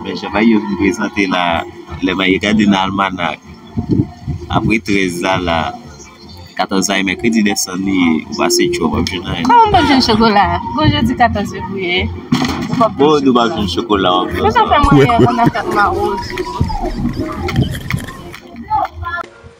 Mwen jan Maye vin prezante la Lè Maye gade nan almanak Apre 13 la la 14 la e mèkredi dèsann li ye Ou pa se tchòv wap jwenn anyen Kòman wap jwenn chokola Bon jodi 14 fevriye Bon nou pap jwenn chokola wap jwenn sa Kouwè kouwè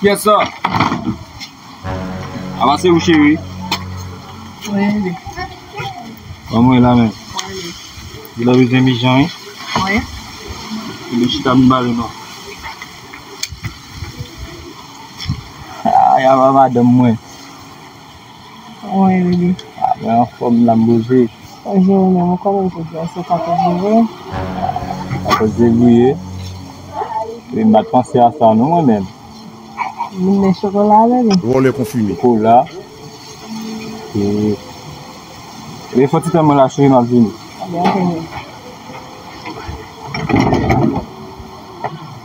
Kiyès sa? A la se ou cheri. Mwen li. Ban mwen la men. Mwen li. Li la bezwen mi jan wi. Mwen. Li li chita mi bale non. A ya va madanm mwen. Mwen Willy. Mwen anfòm la m boze. Mwen jere men mwen konnen jodi a se 14 jevye. 14 jevye. Epi m pat panse a sa non mwen menm. Moun nen chokola a bebe. Vòlè konfime. Chokola. Eee fon ti tan mwen la cheri m ap vini. Ebyen ok bebe.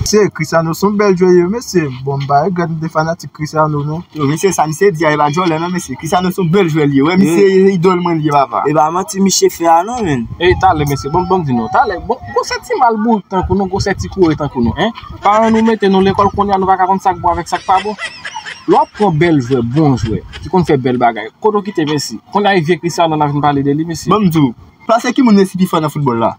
Mesye Chris Arnaud son bèl jwè ui mesye bon mpa regrèt m te fanatik Chris Arnaud non. Yo mesye sa misye di a epa djòlè nan mesye Chris Arnaud son bèl jwè li ye wè misye se idòl mwen li ye papa. Epa manti misye fè a non menn. Ey talè mesye bon banm di nou talè bon gwosè ti mal bourik tankou nou gwosè ti koure tankou nou hein paran nou mete nou lekòl kounya nou paka konn sak bon avèk sak pa bon lè wap pran bèl jwè bon jwè ki konn fè bèl bagay kote w kite Messi kounya e vye Chris Arnaud nap vin pale de li mesye. Banm di w pase ki moun Messi pi fò nan foutbòl la.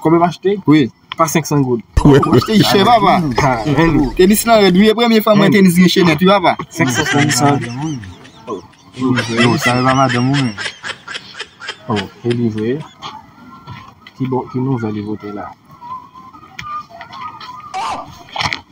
Konbyen mwen achte? Wi, pa 500 goud. Mwen achte li chè papa. Tenis lan rèd wi, e premye fwa mwen wè tenis gen chenèt wi papa. 500 goud sa. Yo, sa yo pa madanm ou menm. Oh, e li vre? Ki bon, ki nouvèl li pote la?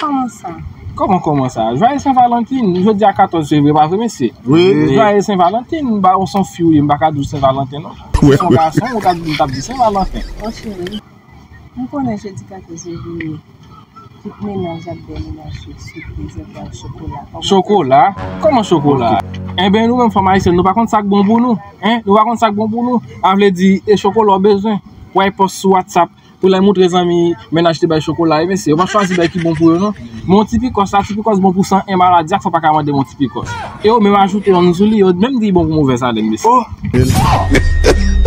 Koman sa? Koman koman sa? Jwaye sen valantin, jodi a 14 fevriye pa vre mesye? Wi. Jwaye sen valantin, ba ou son fi ou ye m pa ka di w sen valanten non. Si w son gason ou ta di m tap di sen valanten. O cheri, m konnen jodi 14 fevriye tout menaj ak bèl menaj yo sipoze ba w chokola. Chokola? Koman chokola? Enben nou menm fanm ayisyèn nou pa konn sak bon pou nou? Hein? Nou pa konn sak bon pou nou? A vle di e chokola w bezwen? Wap pòs sou WhatsApp. Pou lè moutre zanmi mennaj te bay chokola e mesye yo pa chwazi bay ki bon pou yo non men yon ti pikòs la ti pikòs bon pou 101 maladi ak fò paka mande yon ti pikòs e yo menm ajoute yon sou li yo menm di li bon pou movèz alèn mesye oh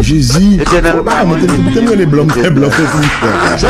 jezi oh bagay mwen te m rele blan m fè blan fè pou m fè sa.